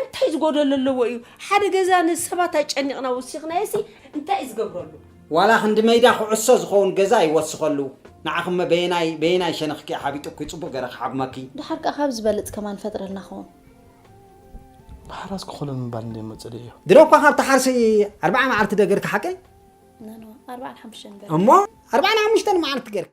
እንታይ ዝጎደሎ ኣለዎ እዩ ሓደ ገዛ ንሰባት ኣጨኒቕና ወሲኽናዮሲ እንታይ እዩ ዝገብረሉ ዋላ ክንዲ መይዳ ኩዕሶ ዝኸውን ገዛ ይወስኸሉ ንዓኹመ በየናይ በየናይ ሸነኽኪ ሓቢጡኪ ጽቡቕ ገረ ክሓጉመኪ ድሓር ከኣ ካብ ዝበልጽ ከማን ፈጥረልና ኸውን ማሕራስ ክኾኖ ምባል እንደ መፅልኢ እዩ ድሮ እኳ ካብ ተሓርሲ ኣርባዓ መዓልቲ ዶ ገርኪ ሓቀይ ኣርባዓን ሓሙሽተን ገርኪ እሞ ኣርባዓን ሓሙሽተን መዓልቲ ገርኪ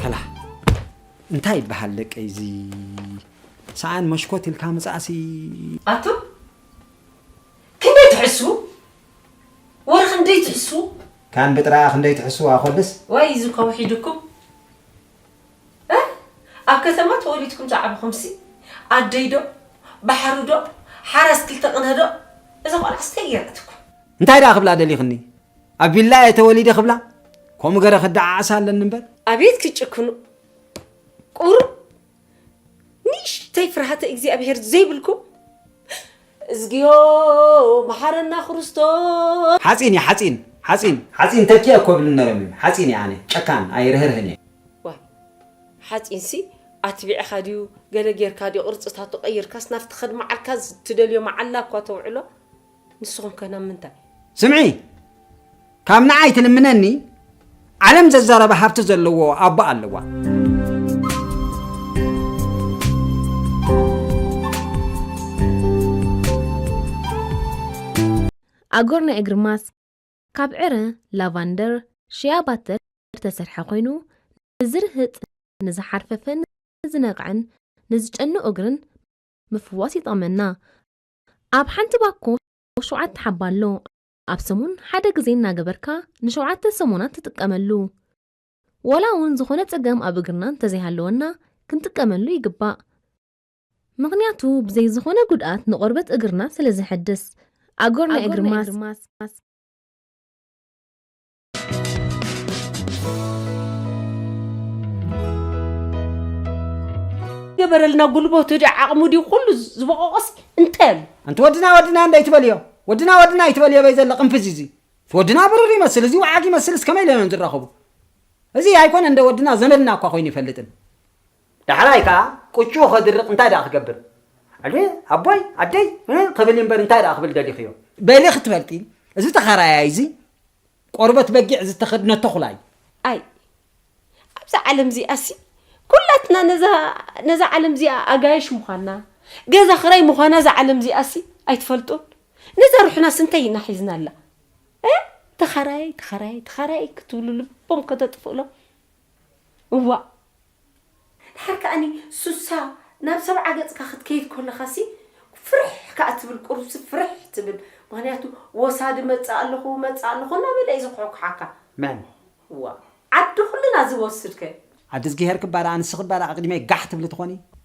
ከላእ እንታይ ይበሃል ደቀይ እዚ ሰኣን መሽኮት ኢልካ ምፃእሲ ኣቱ ክንደይ ትሕሱ ወርኺ ክንደይ ትሕሱ ካን ብጥራኣ ክንደይ ትሕስዋ ኮልስ ወይ እዚ ከውሒ ድኩም እህ ኣብ ከተማ ተወሊድኩም ዝዓበኹምሲ ኣደይ ዶ ባሕሪ ዶ ሓራስ ክልተ ቅነ ዶ እዛ ቆልዓስ ታይ ጌራትኩም። እንታይ ደኣ ክብላ ደሊኽኒ ኣብ ቪላ እየ ተወሊደ ክብላ ከምኡ ገረ ክደዓዓሳ ኣለኒ እምበር። ኣቤት ክትጭክኑ ቁሩብ ንእሽተይ ፍርሃተ እግዚኣብሔር ዘይብልኩም እዝግዮ መሓረና ክርስቶስ ሓጺን እየ ሓጺን ሓጺን ሓጺን ተኪ ኣኮ እብል ነረም እዩ ሓጺን እየ ኣነ ጨካን ኣይርህርህን እየ። ዋይ ሓጺንሲ ኣትቢዕኻ ድዩ ገለ ጌርካ ድዩ ቅርጽታቱ ቀይርካስ ናብቲ ከድምዓልካ ትደልዮ መዓላ እኳ ተውዕሎ። ንስኹም ከ ናብ ምንታይ ስምዒ ካብ ንዓይ ትልምነኒ ዓለም ዘዛረበ ሃብቲ ዘለዎ ኣቦ ኣለዋ ኣጎር ናይ እግሪ ማስክ ካብ ዕረ ላቫንደር ሽያ ባተር ዝተሰርሐ ኮይኑ ንዝርህጥ ንዝሓርፈፈን ንዝነቕዐን ንዝጨኑ እግርን ምፍዋስ ይጠቕመና ኣብ ሓንቲ ባኮ ሸውዓተ ሓባ ኣሎ። ኣብ ሰሙን ሓደ ግዜ እናገበርካ ንሸውዓተ ሰሙናት ትጥቀመሉ። ዋላ እውን ዝኾነ ፀገም ኣብ እግርና እንተዘይሃለወና ክንጥቀመሉ ይግባእ። ምኽንያቱ ብዘይ ዝኾነ ጉድኣት ንቆርበት እግርና ስለዘሐድስ። ኣጎር ናይ እግሪ ማስክ። ገበረልና ጉልበቱ ድዩ ዓቕሙ ድዩ ኩሉ ዝበቆቆስ እንታይ ኣሎ ኣንቲ ወድና ወድና እንደ ኣይትበልዮ ወድና ወድና ኣይትበልዮ በይ ዘሎ ቅንፍዝ እዚ ወድና ብሩር ይመስል እዚ ወዓግ ይመስል እስከመይ ኢሎም እዮም ዝራኸቡ እዚ ኣይኮነ እንደ ወድና ዘመድና እኳ ኮይኑ ይፈልጥን ዳሕራይ ከኣ ቅጭኡ ከድርቅ እንታይ ደኣ ክገብር ኣየ ኣቦይ ኣደይ ን ክብል ኢምበር እንታይ ደኣ ክብል ደሊክዮ። በሊ ክትፈልጢ እዚ ተኻራያይ እዚ ቆርበት በጊዕ ዝተኸድነት ተኹላ እዩ። ኣይ ኣብዛ ዓለም እዚኣሲ ኩላትና ነዛ ነዛ ዓለም እዚኣ ኣጋይሽ ምዃንና ገዛ ክራይ ምዃና እዛ ዓለም እዚኣሲ ኣይትፈልጡን ነዛ ሩሕናስ እንታይ ኢና ሒዝናላ ተኻራያይ ተኻራያይ ተኻራያይ ክትብሉ ልቦም ከተጥፍእሎም እዋእ ድሓር ከኣኒ ሱሳ ናብ ሰብዓ ገጽካ ክትከይድ ኮለኻሲ ፍርሕ ከኣ ትብል ቁሩብሲ ፍርሕ ትብል ምኽንያቱ ወሳዲ መጽእ ኣለኹ መጽእ ኣለኹ እናበለ እዩ ዝኹሕኩሓካ መን እዋእ ዓዲ ኩልና ዝወስድ ከ። ኣደ እዝግሄር ክባረ ኣንስቲ ክባረ ኣቅዲመይ ጋሕ ትብሊ ትኾኒ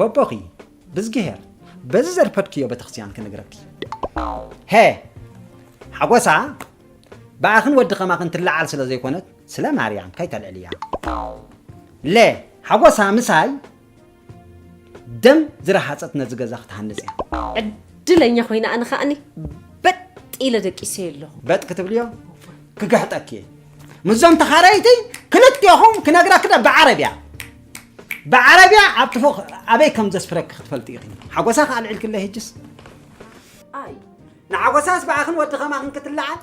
ቦቦኺ ብዝግሄር በዚ ዘርፐድክዮ በተክርስቲያን ክንግረኪ ሀ ሓጎሳ ብኣኽን ወዲ ከማኽን ትለዓል ስለ ዘይኮነት ስለ ማርያም ከይተልዕልያ ለ ሓጎሳ ምሳይ ደም ዝረሃፀት ነዚ ገዛ ክትሃንፅ እያ ዕድለኛ ኮይና ኣነ ከዓኒ በጥ ኢለ ደቂሰ ኣለኹ በጥ ክትብልዮ ክግሕጠኪ እየ ምዞም ተኻረይቲ ክልቴኹም ክነግረክደ ብዓረብያ ብዓረብያ ኣብቲ ፎቕ ኣበይ ከም ዘስፍረኪ ክትፈልጢ ኢኺ ሓጎሳ ከ ኣልዒልክለይ ሕጅስ ኣይ ንሓጎሳስ ብኣኽን ወዲ ኸማኽን ክትለዓል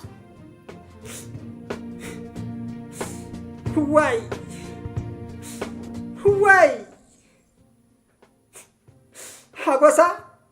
ዋይ ዋይ ሓጎሳ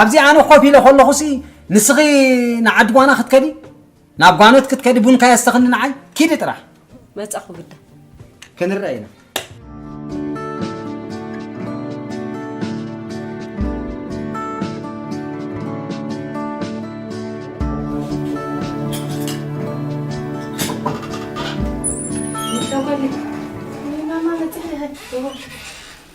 ኣብዚ ኣነ ኮፍ ኢለ ከለኹሲ ንስኺ ንዓዲ ጓና ክትከዲ ናብ ጓኖት ክትከዲ ቡንካ የስተኽኒ ንዓይ ኪዲ ጥራሕ መጻኹ ግዳ ክንረአ ኢና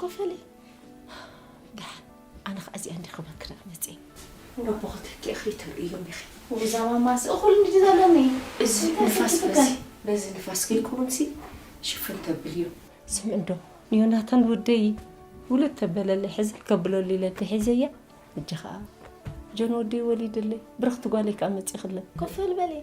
ኮፈለይ ድሓን ኣነ ከዓ እዚኣ እንዲ ክብር ክዳእ መፅየ ንኣቦ ክትህቂ እኽሊ ተርእዮም ኢኺ ንዛ ማማስ እኹል እንዲ ዘለኒ እዚ ንፋስ በዚ በዚ ንፋስ ከይከውንሲ ሽፍን ተብል እዩ ስም እንዶ ንዮናታን ወደይ ውሉድ ተበለለይ ሕዚ ከብለሉ ኢለ እንተሒዘያ እጂ ከዓ ጆን ወደይ ወሊድለይ ብርኽቲ ጓለይ ከዓ መፅእኽለ ኮፈል በለይ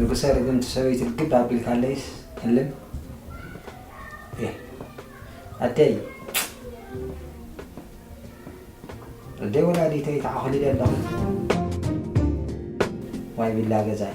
ንጉሰ ርግምቲ ሰበይቲ ልግብ ኣቢልካለይስ እልም እየ ኣደይ ኣደይ ወላዲተይ ተዓኹሊለ ኣለኹ ዋይ ቢላ ገዛይ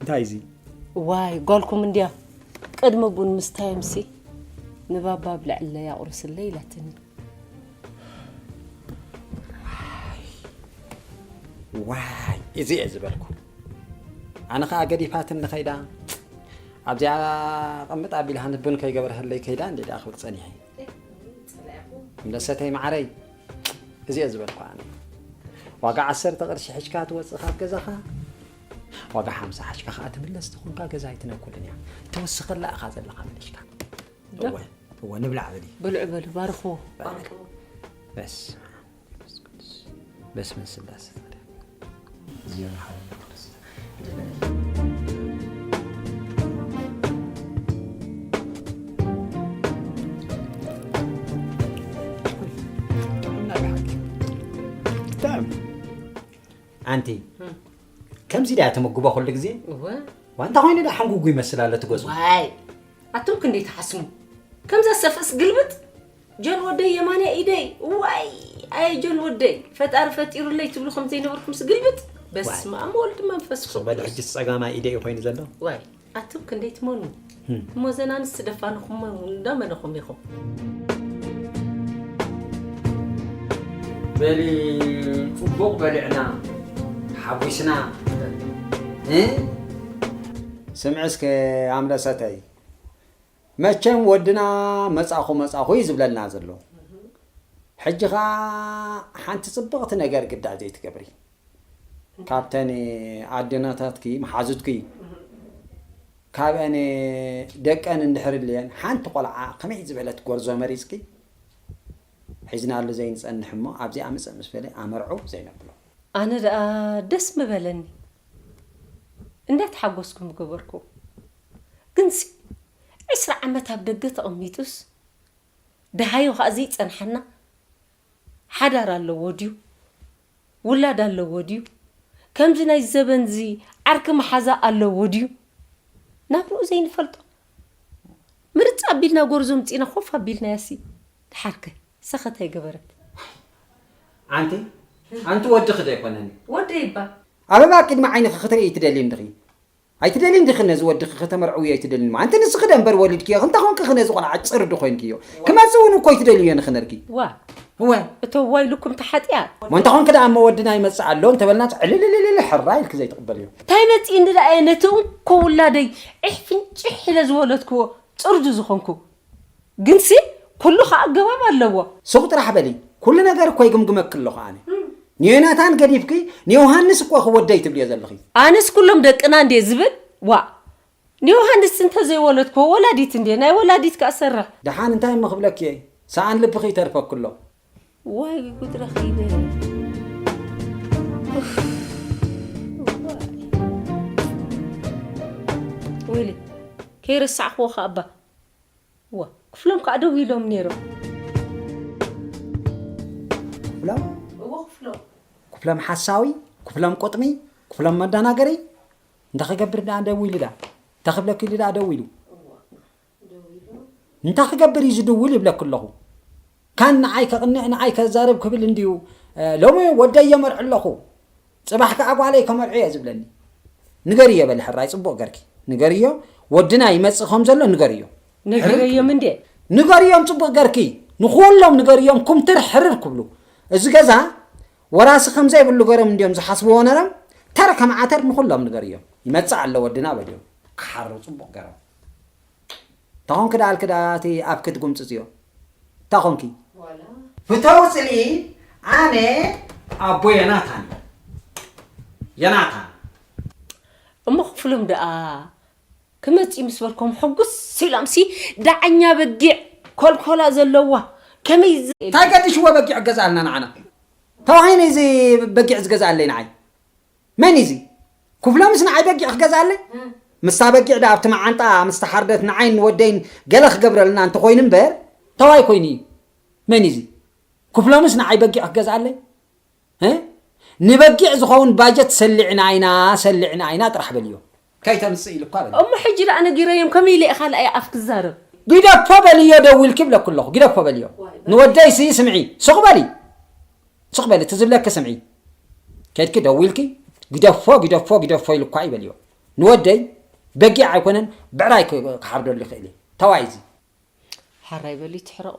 እንታይ እዚ ዋይ ጓልኩም እንድያ ቅድሚ ቡን ምስታየምሲ ንባባ ብልዕለይ ኣቑርስለይ ኢላትኒ ዋይ እዚ እየ ዝበልኩ ኣነ ከዓ ገዲፋትን ንኸይዳ ኣብዚኣ ቐምጥ ኣቢልሃኒ ቡን ከይገበርሃለይ ከይዳ እንዴ ደኣ ክብል ፀኒሐ ምለሰተይ ማዓረይ እዚ እየ ዝበልኩ ኣነ ዋጋ ዓሰርተ ቅርሺ ሕጅካ ትወፅእ ካብ ገዛኻ ዋጋ ሓምሳ ሓጅካ ከዓ ትምለስ ትኾንካ ገዛ ኣይትነኩልን እያ ተወስኸላ ኢኻ ዘለኻ መሊሽካ እወ እወ ንብላዕ በሊ ብልዑ በሉ ባርኽዎ በስ በስመ ስላሴ ኣንቲ ከምዚ ድያ ተመግቦ ኩሉ ግዜ ዋንታ ኮይኑ ዳ ሓንጉጉ ይመስል ኣሎ ትገዝኡ ኣቶም ክንደይ ትሓስሙ ከምዛ ሰፍእስ ግልብጥ ጆን ወደይ የማናይ ኢደይ ዋይ ኣየ ጆን ወደይ ፈጣሪ ፈጢሩለይ ትብሉ ከም ዘይነበርኩምስ ግልብጥ በስመኣም ወልድ መንፈስ ቅዱስ በል ሕጂስ ጸጋማይ ኢደይ እዩ ኮይኑ ዘሎ ዋይ ኣቱም ክንደይ ትመኑ እሞ ዘን ኣንስቲ ደፋንኹም እንዳ መነኹም ኢኹም በሊ ጽቡቕ በሊዕና ሓጒስና ስምዒ እስከ ኣምለሰተይ መቸም ወድና መጻኹ መጻኹ እዩ ዝብለና ዘሎ ሕጂ ከኣ ሓንቲ ጽብቕቲ ነገር ግዳ ዘይትገብሪ ካብተን ኣደናታትኪ መሓዙትኪ ካብአን ደቀን እንድሕር ልየን ሓንቲ ቆልዓ ከመይ ዝበለት ጎርዞ መሪጽኪ ሒዝናሉ ዘይንጸንሕ እሞ ኣብዚኣ ምጽእ ምስ በለ ኣመርዑ ዘይነብሎ። ኣነ ደኣ ደስ ምበለኒ እንዳ ተሓጎስኩ ምገበርኩ። ግንሲ ዕስራ ዓመት ኣብ ደገ ተቐሚጡስ ደሃዩ ከኣ ዘይጸንሓና ሓዳር ኣለዎ ድዩ ውላድ ኣለዎ ድዩ ከምዚ ናይዚ ዘበንዚ ዓርኪ መሓዛ ኣለዎ ድዩ ናብርኡ ዘይንፈልጦ ምርጽ ኣቢልና ጎርዞ ምጺና ኮፍ ኣቢልናያሲ ደሓርከ ሰኸት ኣይገበረት ኣንቲ ኣንቲ ወድኺ ዶ ኣይኮነን ወደይባ ኣበባ ኣብ ቅድሚ ዓይንኺ ክትርእይ ትደልዪ እንድኺ። ኣይትደልይን ዲኺ ነዚ ወድኺ ከተመርዕውዮ ኣይትደልይንሞ ኣንቲ ንስኺ ዶ እምበር ወሊድክዮ ክንታ ኮንኪ ኽነዚ ቆልዓ ጭር ዶ ኾይንክዮ ክመጽእ ውን እኮ ኣይትደልይዮ ንኽነርኪ ዋእ እወ እቶ ዋይ ልኩም ተሓጥያ። እሞ እንተ ኾንኪ ደኣ እሞ ወድና ይመጽእ ኣሎ እንተ በልናስ ዕልልልልል ሕራይ ኢልኪ ዘይትቕበልዮ። ታይ መጺእኒ ደኣ እየ ነቲ እንኮ ውላደይ ዒሕ ፍንጪሕ ኢለ ዝወለድክዎ ጽርጁ ዝኾንኩ። ግንሲ ኩሉ ከኣ ኣገባብ ኣለዎ። ሱቕ ጥራሕ በሊ ኩሉ ነገር እኮ ይግምግመኪ ኣለኹ ኣነ። ንዮናታን ገዲፍኪ ንዮውሃንስ እኮ ኢኺ ወደይ ትብልዮ ዘለኺ። ኣነስ ኩሎም ደቅና እንድየ ዝብል ዋእ። ንዮውሃንስ እንተዘይወለድክዎ ወላዲት እንድየ ናይ ወላዲት ከኣ ሰርሕ። ደሓን እንታይ እሞ ክብለኪ እየ ሰኣን ልብኺ ይተርፈኪ ኣሎ። ዋይ ጉድ ረኺበ ኡፍ። ወይለይ ከይረሳዕክዎ ከኣ እባ እወ ክፍሎም ከኣ ደው ኢሎም ኔሮም። ክፍሎም? እወ ክፍሎም። ክፍሎም ሓሳዊ፣ ክፍሎም ቁጥሚ፣ ክፍሎም መዳናገሪ፣ እንተ ክገብር ደኣ ደው ኢሉ ደኣ፣ እንተ ክብለኪ ኢሉ ደኣ ደው ኢሉ። እንታይ ክገብር እዩ ዝድውል ይብለኪ ኣለኹ። ካን ንዓይ ከቕንዕ ንዓይ ከዛርብ ክብል እንድዩ ሎሚ ወደይ የመርዕ ኣለኹ ጽባሕ ከኣ ጓለይ ከመርዑ እየ ዝብለኒ ንገርዮ በሊ ሕራይ ጽቡቕ ገርኪ ንገርዮ ወድና ይመጽእ ከም ዘሎ ንገርዮ ነጊረዮም እንዴ ንገርዮም ጽቡቕ ገርኪ ንኹሎም ንገርዮም ኩምትር ሕርር ክብሉ እዚ ገዛ ወራሲ ከም ዘይብሉ ገሮም እንድዮም ዝሓስብዎ ነሮም ተር ከም ዓተር ንኹሎም ንገርዮም ይመጽእ ኣሎ ወድና በልዮም ክሓሩ ጽቡቕ ገሮም እታ ኮንኪ ደኣ ኣልኪ ደኣ እቲ ኣፍኪ ትጉምጽጽዮ እታ ኮንኪ። ፍተዉ ጽልኢ ኣነ ኣቦ የናታን እየ የናታን። እሞ ክፍሎም ደኣ ክመጽ እዩ ምስ በልኮም ሕጉስ ኢሎምሲ ደዓኛ በጊዕ ኮልኮላ ዘለዋ ከመይ ታይ ገዲሽዎ በጊዕ ገዝኣልና ንዓና ተባሂኒ እዚ በጊዕ ዝገዝኣለይ ንዓይ። መን እዩ እዚ ኩፍሎ ምስ ንዓይ በጊዕ ክገዝኣለይ? ምስታ በጊዕ ደኣ ኣብቲ መዓንጣኣ ምስ ተሓርደት ንዓይን ንወደይን ገለ ክገብረልና እንተ ኾይኑ እምበር ተዋይ ኮይኑ እዩ። መን እዩ እዚ ኩፍሎ ምስ ንዓይ በጊዕ ክገዝኣለይ? ንበጊዕ ዝኸውን ባጀት ሰሊዕና ኢና ሰሊዕና ኢና ጥራሕ በልዮ። ከይተምጽእ ኢሉካ በለ። እሞ ሕጂ ደኣ ነጊረዮም ከመይ ኢለ እየ ካልኣይ ኣፍ ክዛረብ። ግደፎ በልዮ ደዊልኪ ይብለኪ ኣለኩ ግደፎ በልዮ ንወደይ ስይ ስምዒ ስቅ በሊ ስቅ በሊ እቲ ዝብለኪ ስምዒ ከድኪ ደዊልኪ ግደፎ ግደፎ ግደፎ ኢሉካ እዩ በልዮ ንወደይ በጊዕ ኣይኮነን ብዕራይ ክሓርደሉ ይክእል እየ ተዋይ እዚ ሐራይ በሊ ትሕረቁ።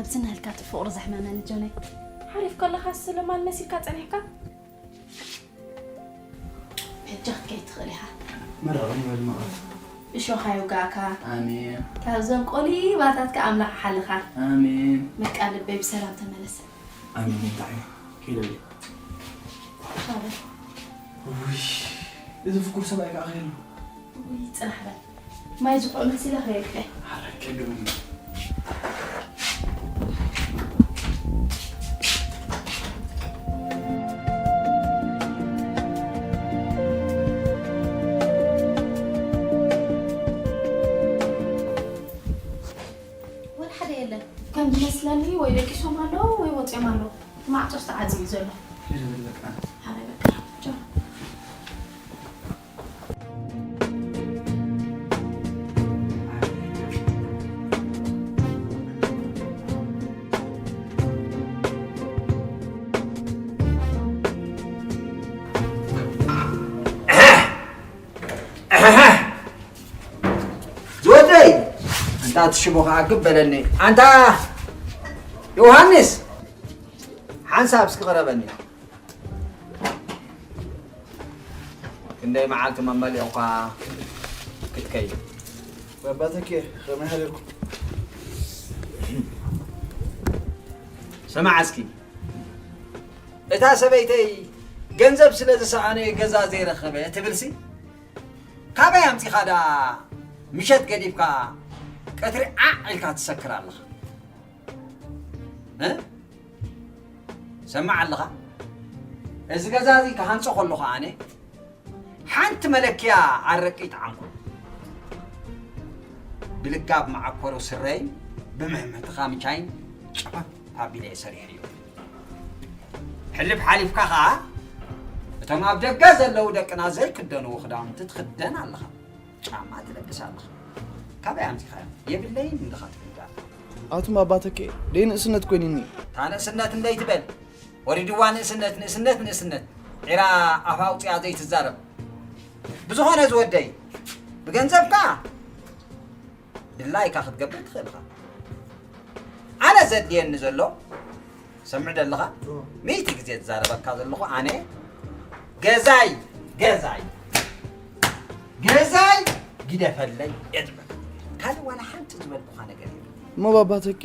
ኣብዚ ናህልካ እቲ ፍቕሩ ዘሕመመኒ ጆነይ ሓሪፍ ከለኻስ ስለማን መሲልካ ፀኒሕካ ሕጂ ክትከይድ ትኽእል ኢኻ መራዊ ይበል መቐፍ እሾኻ ይውጋእካ ኣሜን ካብዞም ቆሊባታትካ ኣምላኽ ሓልኻ ኣሜን በቃ ልበይ ብሰላም ተመለሰ ኣሜን እንታይ ከይደለ ውይ እዚ ፍኩር ሰብኣይ ከዓ ከይሉ ጽናሕ በል ማይ ዝሑቕ መሲለ ክሪኤክ'የ። ሓራይ ጨግምኒ። ወላ ሓደ የለን። ከም ዝመስለኒ ወይ ደቂሶም ኣለዉ ወይ ወጺኦም ኣለዉ። እቲ ማዕጾስ ተዓጽዩ እዩ ዘሎ። ከይደ በል በቃ። ሓራይ በቃ ቻው። ዝወደይ እንታ ትሽቦ ከዓ ግብ በለኒ ኣንታ ዮሃንስ ሓንሳብ እስኪ ቅረበኒ ክንደይ መዓልቲ መመሊቑካ ክትከይድ በባተኪ ከመይ ሃደርኩም ስማዕ እስኪ እታ ሰበይተይ ገንዘብ ስለ ዝሰኣነ ገዛ ዘይረኸበ ትብልሲ ካበይ ኣምፂኻ ደኣ ምሸት ገዲፍካ ቀትሪ ዓዕ ኢልካ ትሰክር ኣለኻ ሰማዕ ኣለኻ እዚ ገዛ እዚ ክሃንፆ ከለኹ ኣነ ሓንቲ መለክያ ኣረቂ ይጠዓምኩ ብልካብ መዓኮሩ ስረይ ብምሕምሕትኻ ምቻይን ጨፈፍ ኣቢለ እየ ሰሪሐ እዩ ሕልፍ ሓሊፍካ ከዓ እቶም ኣብ ደገ ዘለዉ ደቅና ዘይክደንዎ ክዳውንቲ ትኽደን ኣለኻ ጫማ ትለብስ ኣለኻ ካበይ ኣምጺኻዮም የብለይን እንድኻ ትብል ዳርታ ኣቱም ኣባተከ ደይ ንእስነት ኮይንኒ እታ ንእስነት እንደይ ትበል ወሪድዋ ንእስነት ንእስነት ንእስነት ዒራ ኣፍ ኣውፂኣ ዘይትዛረብ ብዝኾነ ዝወደይ ብገንዘብካ ድላይካ ክትገብር ትኽእል ኢኻ ኣነ ዘድልየኒ ዘሎ ሰምዕ ደለኻ ሚእቲ ግዜ ዝዛረበካ ዘለኹ ኣነ ገዛይ ገዛይ ገዛይ ግደፈለይ እየ ዝበል ካልእ ዋላ ሓንቲ ዝበልኩኻ ነገር የለን እሞ ባባ ተኬ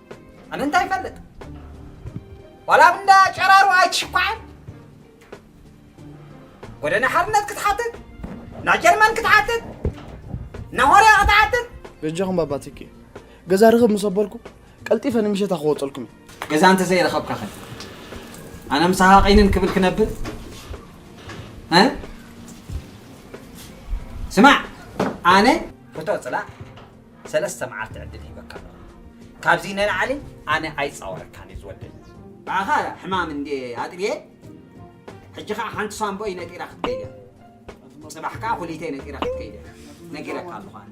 ኣነ እንታይ ይፈልጥ ዋላ ኣብ እንዳ ጨራሩ ኣይትሽኳዕን ጎደና ሓርነት ክትሓትት ናይ ጀርመን ክትሓትት ናይ ሆርያ ክትሓትት በጃኹም ባባ ትኪ ገዛ ርኽብ ምስ ኣበልኩ ቀልጢፈ ንምሸታ ክወፀልኩም እዩ ገዛ እንተዘይረኸብካ ኸ ኣነ ምሳኻ ቀይንን ክብል ክነብር እ? ስማዕ ኣነ ፎቶ ፅላእ ሰለስተ መዓልቲ ዕድል ሂበካ ኣለኹ። ካብዚ ንላዕሊ ኣነ ኣይጻወረካን እዚ ወደይ። ብኣኻ ሕማም እንድየ ኣጥብየ፣ ሕጂ ከኣ ሓንቲ ሳንቡኣይ ነጢራ ክትከይድ እያ። ጽባሕ ከኣ ኩሊተይ ነጢራ ክትከይድ እያ ነጊረካ ኣለኹ ኣነ።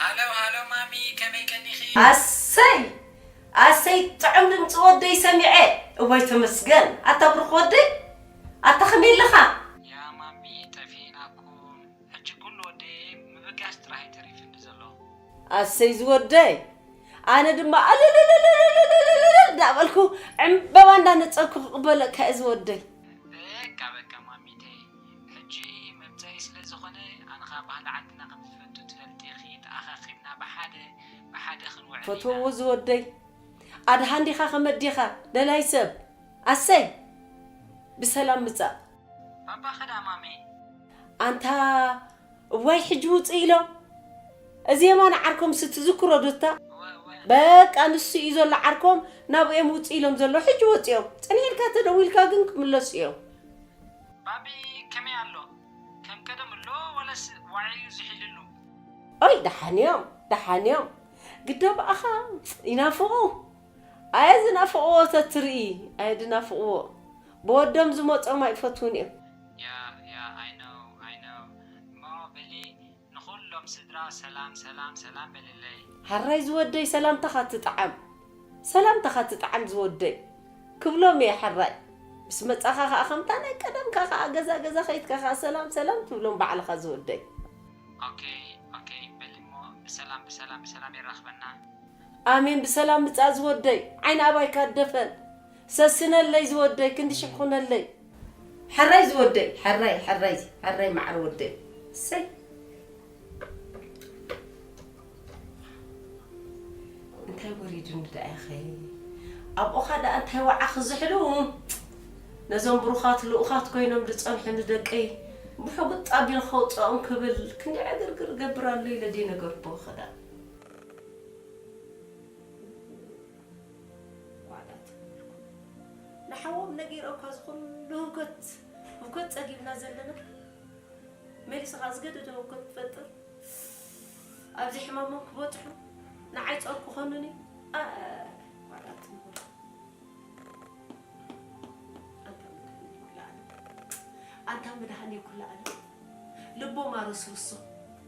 ሃሎ ሃሎ ማሚ ከመይ ቀኒኺ። ኣሰይ ኣሰይ ጥዑም ድምፂ ወደይ ሰሚዐ እዋይ ተመስገን ኣታ ብሩኽ ወደይ ኣታ ከመይ ኣለኻ። ያ ማሚ ጠፊእናኩም ሕጂ ኩሉ ወደየ ምብጋስ ጥራሕ እዩ ተሪፍኒ ዘሎ። ኣሰይ ዝወደይ ኣነ ድማ እልልልልልልልልልልልል እንዳበልኩ ዕምበባ እንዳነፀግኩ ክቅበለካ እየ ዝወደይ። በቃ በቃ ማሚተይ ሕጂ መምጸኢ ስለ ዝኾነ ኣነ ከኣ ባህሊ ዓድና ከም ዝፈቱ ትፈልጢ ኢኺ ተኣኻኺብና ብሓደ ብሓደ ክንውዕል ኢና። ፈትወዎ ዝወደይ ኣድሃ እንዲኻ ከመዲኻ ደላይ ሰብ ኣሰይ ብሰላም ምጻእ። ባባ ከዳ ማሜ። ኣንታ እዋይ ሕጂ ውጽእ ኢሎም እዚ የማነ ዓርኮምሲ ትዝክሮ ዶ እታ እወ እወ። በቃ ንሱ እዩ ዘሎ ዓርኮም ናብኡ እዮም ውጽእ ኢሎም ዘለዉ ሕጂ ወጺኦም ጽንሕ ኢልካ ተደዊልካ ግን ክምለሱ እዮም። ባቢ ከመይ ኣሎ ከም ቀደም እሎ ወለስ ዋዒዩ ዝሒልሉ። ኦይ ደሓን እዮም ደሓን እዮም ግዳ ብኣኻ ይናፍቑ ኣየ ዝናፍቕዎ ተትርኢ ኣየ ድናፍቕዎ ብወዶም ዝመጾም ኣይፈትዉን እዮም። ያያ ኣይ ኖው ኣይ ኖው እሞ በሊ ንኹሎም ስድራ ሰላም ሰላም ሰላም በልለይ። ሐራይ ዝወደይ ሰላምታኻ ትጥዓም። ሰላምታኻ ትጥዓም ዝወደይ ክብሎም እየ ሐራይ ምስ መጻኻ ኸኣ ከምታ ናይ ቀደምካ ኸኣ ገዛ ገዛ ከይትካ ኸኣ ሰላም ሰላም ትብሎም ባዕልኻ ዝወደይ። ኦከይ ኦከይ በሊ እሞ ብሰላም ብሰላም ብሰላም የራኽበና። ኣሜን ብሰላም ምጻእ ዝወደይ ዓይኒ ኣባይካ ድፈን ሰስነለይ ዝወደይ ክንዲ ሽሕ ኹነለይ። ሐራይ ዝወደይ ሐራይ ሐራይ ሐራይ ማዓር ወደይ እሰይ እንታይ ወሪዱኒ ደኣ ኢኺ ኣብኡኻ ደኣ እንታይ ወዓኺ ዝሕሉ ነዞም ብሩኻት ልኡኻት ኮይኖም ዝጸንሑ ንደቀይ ብሕጉጥ ኣቢሉ ከውጽኦም ክብል ክንዲ ዕግርግር እገብር ኣሎ ኢለ ደይነገርኩኺ ደኣ ዋላ ትብልኩም ንሓዎም ነጊሮም እካ እዚ ኩሉ ህውከት ህውከት ጸጊብና ዘለና መሊሱ ከኣ ዝገደደ ህውከት ክፈጥር ኣብዚ ሕማሞም ክበጽሑ ንዓይ ጾር ክኾኑኒ ዋላ ትብሉ ኣንታ መድሃኔ ኩላ ኣለም ልቦም ኣረስርሶ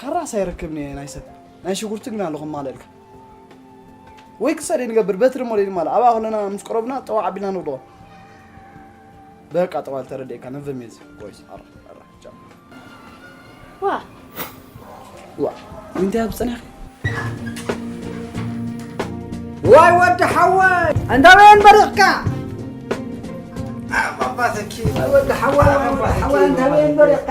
ካራስ ኣይረክብን እየ ናይ ሰብ ናይ ሽጉርቲ ግና ኣለኹ ማለልካ ወይ ክሳደ ንገብር በትሪ ሞለ ድማ ኣብ ኣክለና ምስ ቀረብና ጠዋ ዓቢልና ንብሎ በቃ ጠዋ ተረድኤካ ነብም እየ ወይስ ኣራ ኣራ ቻው ዋ ዋ እንታይ ኣብ ፀኒሕኪ ዋይ ወዲ ሓወይ እንዳበየን በሪቕካ ኣባባተኪ ወዲ ሓወይ ወዲ ሓወይ እንዳበየን በሪቕካ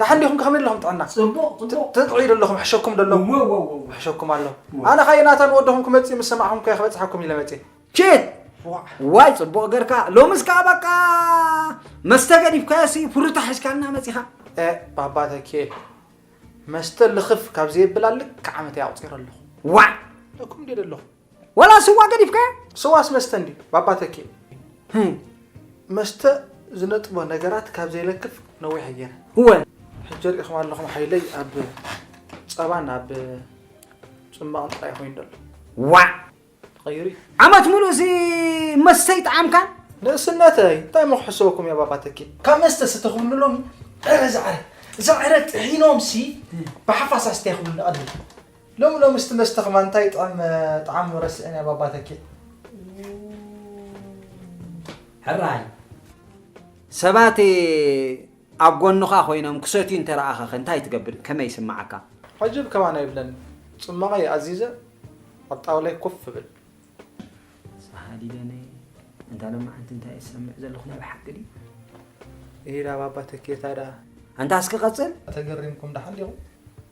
ደሓን ዲኹም ከመይ ኣለኹም ጥዕና ጽቡቕ ጽቡቕ ትጥዕዩ ዶ ኣለኹም ሕሸኩም ዶ ኣለኹም እወ እወ እወ ሕሸኩም ኣሎ እወ። ኣነ ካየ ናታን ወድኹም ክመጽእ ምስ ሰማዕኹም ከ ክበጽሓኩም ኢለ መጽየ ቺት ዋዕ ዋይ ጽቡቕ ገርካ ሎምስ ከዓ በቃ መስተ ገዲፍካዮ ሲ ፍሩታ ሒዝካልና መጺኻ እ ባባ ተኬ መስተ ልኽፍ ካብ ዘየብል ኣልክ ዓመት እየ ኣቑጺረ ኣለኹ ዋዕ እኩም ዲደ ኣለኹ ወላ ስዋ ገዲፍካዮ ስዋስ መስተ እንድዩ ባባ ተኪኡ መስተ ዝነጥቦ ነገራት ካብ ዘይለክፍ ነዊሕ ኣየረ እወ ሕጂ ርኢኹም ኣለኹም ሓይለይ ኣብ ፀባን ኣብ ፅማቕን ጥራይ ኮይኑ ደሎ ዋዕ ተቐይሩ እዩ ዓመት ሙሉእ ሲ መስተ ይጠዓምካን ንእስነተይ እንታይ ሞ ክሕሰበኩም እየ ባባ ተኪ ካብ መስተ ስተኽብሉ ሎሚ ዕረ ዝዕረ ዝዕረ ጥሒኖም ሲ ብሓፋስ ኣስተይ ክብሉ ንቐድም ሎሚ ሎሚ እስቲ መስተ ከማን እንታይ ይጥዕም ጣዕሙ ረሲዐናዮ ባባ ተኪእ። ሕራይ ሰባት ኣብ ጎንኻ ኮይኖም ክሰትዩ እንተረኣኸኸ እንታይ ትገብር ከመይ ይስምዓካ? ዓጅብ ከማን ኣይብለን ጽማቐይ ኣዚዘ ኣብ ጣውላይ ኮፍ እብል። ሰሃሊ ደነ እንታ ለማዓንቲ እንታይ ዝሰምዕ ዘለኹ ናይ ብሓቂ ድዩ? እሂዳ ባባ ተኪኤታ ደኣ ኣንታ እስኪ ቀጽል። ተገሪምኩም ደሓን ዲኹም?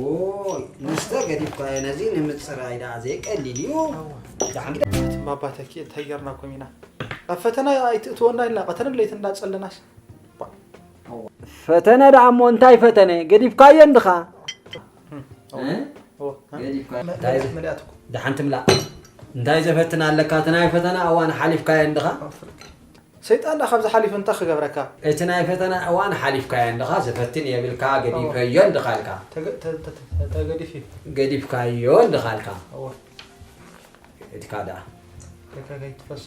ዎይ መስተ ገዲፍካዮ ነዚ ንምፅራይ ደኣ ዘይቀሊል እዩ ደሓን ግደ እትም ኣባ ተኪ እንታይ ጌርናኩም ኢና ኣብ ፈተና ኣይትእትወና ኢልና ቀተርን ለይትን እንዳጸለናስ ፈተነ ደኣ እሞ እንታይ ፈተነ ገዲፍካዮ እንድኻ ደሓን ትምላእ እንታይ ዘፈትና ኣለካ እቲ ናይ ፈተና እዋን ሓሊፍካዮ እንድኻ ሰይጣን ድኣ ካብዚ ሓሊፉ እንታይ ክገብረካ? እቲ ናይ ፈተና እዋን ሓሊፍካዮ እንድኻ፣ ዝፈትን የብልካ፣ ገዲፈዮ እንድኻ ኢልካ። እንታይ ገዲፊ? ገዲፍካዮ እንድኻ ኢልካ። እወ። ኢድካ ድኣ። ኢድካ ከይትፈሶ።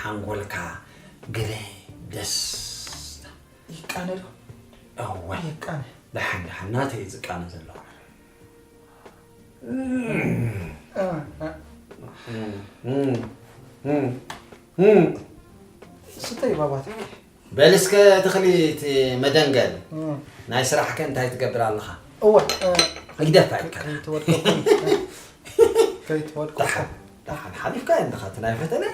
ሓንጎልካ ግበይ ደስታ ይቃነ ዶ እወ ይቃነ ደሓን ደሓን ናተይ እዩ ዝቃነ ዘሎ ስተይ ባባ ተይ በል እስከ ትኽሊ እቲ መደንገል ናይ ስራሕ ከ እንታይ ትገብር ኣለኻ እወ ይግደፋ ኢልካ ከይትወድቆ ሓሊፍካ ኣለኻ እቲ ናይ ፈተነ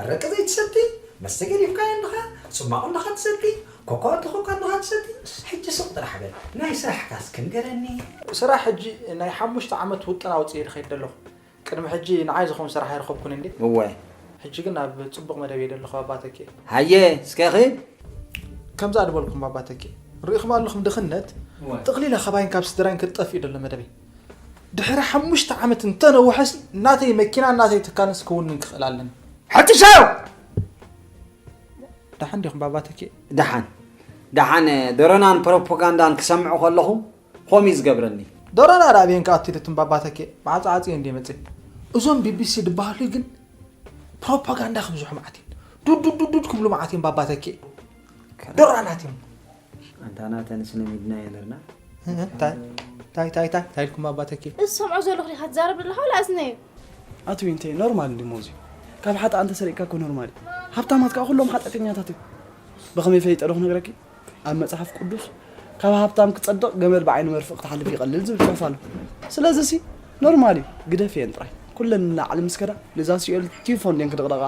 ኣረቂ ዘይትሰቲ መስተ ገዲፍካ ኣለኻ ፅማቑ ኣለኻ ትሰቲ ኮኳ እንተኾንካ ኣለኻ ትሰቲ ሕጂ ስቕ ጥራሕ በል ናይ ስራሕካስ ክንገረኒ ስራሕ ሕጂ ናይ ሓሙሽተ ዓመት ውጥን ኣውፅእ ይኸይድ ኣለኹ ቅድሚ ሕጂ ንዓይ ዝኸውን ስራሕ ኣይረኸብኩን እንዴ። እወ። ሕጂ ግን ኣብ ጽቡቕ መደብ እየ ደለኹ ባባ ተኪኤ። ሃየ እስከ ኺድ። ከምዛ ድበልኩም ባባ ተኪኤ ርኢኹም ኣለኹም ድኽነት ጥቕሊለ ካባይን ካብ ስድራይን ክትጠፍኢ ደሎ መደበይ። ድሕሪ ሓሙሽተ ዓመት እንተ ነውሐስ ናተይ መኪናን ናተይ ትካልንስ ክውንን ክኽእል ኣለኒ። ሐትሻዮ! ደሓን ዲኹም ባባ ተኪኤ? ደሓን ደሓን። ደረናን ፕሮፖጋንዳን ክሰምዕ ከለኹ ኾም እዩ ዝገብረኒ። ዶራን ኣራብየን ከኣ ኣቲ ትንባባ ተኬ መዓልቲ ዓጽየ እንዴ መጽ እዞም ቢቢሲ ድበሃሉ ግን ፕሮፓጋንዳ ክብዝሑ መዓት እዮም ዱዱዱዱድ ክብሉ መዓት እዮም ባባ ተኬ ዶራናት እዮም ኣንታና ተንስነ ሚድና የነርና ታይ ታይ ታይ ታይ ታይ ኢልኩም ባባ ተኬ እሰምዖ ዘለኹ ዲኻ ትዛረብ ዘለኻ ወላ እዝነየ ኣቲ ዊንቴ ኖርማል እንዲ ሞዚ ካብ ሓጥኣን ተሰሪቅካ እኮ ኖርማል እዩ ሃብታማት ከዓ ኩሎም ሓጢኣተኛታት እዮም ብኸመይ ፈሊጠ ዶ ክነግረኪ ኣብ መጽሓፍ ቅዱስ ካብ ሃብታም ክጸድቕ ገመድ ብዓይኒ መርፍእ ክትሓልፍ ይቐልል ዝብል ጽሑፍ ኣሎ ስለዚ ሲ ኖርማል እዩ ግደፍ እየን ጥራይ ኩለን ንላዕሊ ምስ ከዳ ነዛ ሲኦል ቲፎን ድን ክድቕደቓ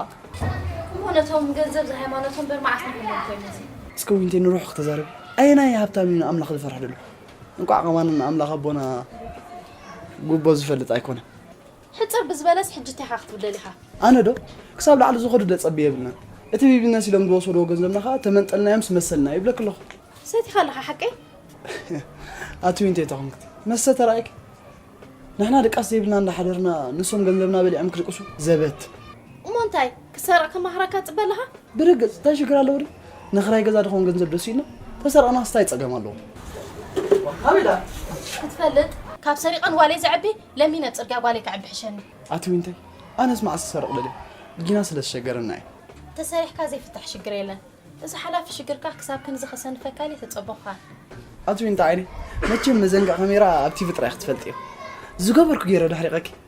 እሞ ነቶም ገንዘብ ዝሃይማኖቶም በር መዓስ ንኹሎም ኮይነዚ እስከ ዊንቴ ንሩሕ ክተዛረብ ኣየናይ ሃብታም እዩ ንኣምላኽ ዝፈርሕ ደሎ እንቋዕ ከማን ንኣምላኽ ኣቦና ጉቦ ዝፈልጥ ኣይኮነ ሕጽር ብዝበለስ ሕጂ እንታይ ኢኻ ክትብል ደሊኻ? ኣነ ዶ ክሳብ ላዕሊ ዝኸዱ ደጸቢ የብልናን እቲ ቢቢነስ ኢሎም ዝወሰድዎ ገንዘብና ከኣ ተመንጠልናዮምስ መሰልና ይብለኪ ኣለኹ። ሰቲኻ ኣለኻ ሓቀይ? ኣቲ ዊንተይ ተኾንክቲ መስተ ተራእይኪ ንሕና ድቃስ ዘይብልና እንዳሓደርና ንሶም ገንዘብና በሊዖም ክድቅሱ ዘበት። እሞ እንታይ ክትሰርቕ ከማኽረካ ትጽበ ኣለኻ? ብርግጽ እንታይ ሽግር ኣለዎ ድዩ? ንክራይ ገዛ ድኾን ገንዘብ ደስ ኢሉና ተሰርቕናስ እንታይ ጸገም ኣለዎ? እዋ ኣበይ ድኣ? ክትፈልጥ ካብ ሰሪቐ ንጓለይ ዘዕቢ ለሚነ ጽርግያ ጓለይ ከዕቢ ሕሸኒ። ኣቲ ዊንታይ ኣነስ መዓስ ክሰርቕ ደልየ ጊና ስለ ዝሸገረና እየ። ተሰሪሕካ ዘይፍታሕ ሽግር የለን እዚ ሓላፊ ሽግርካ ክሳብ ክንዚ ከሰንፈካ ድየ ተጸበኹካ። ኣቲ ዊንታ ዓይነይ መቸም መዘንግዕ ካሜራ ኣብ ቲቪ ጥራይ ክትፈልጥዮ ዝገበርኩ ጌረ ዳሕሪቐኪ።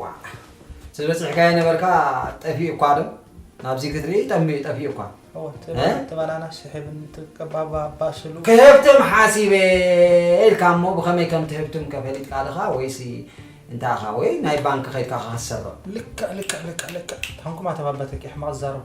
ዋእ ዝበፅሕካዮ ነበርካ ጠፊኡ እኳ ዶ ናብዚ ክትርኢ ጠሚኡ ጠፊኡ እኳ ተባላና ስሕብን ትቀባባስሉ ክህብትም ሓሲበ ኢልካ እሞ ብኸመይ ከም ትህብትም ከፈሊጥካ ድኻ ወይሲ እንታይ ኢኻ ወይ ናይ ባንኪ ከይድካ ከክሰሮ ልክዕ ልክዕ ልክዕ ልክዕ ታንኩም ኣተባበተቂ ሕማቕ ዝዛረቡ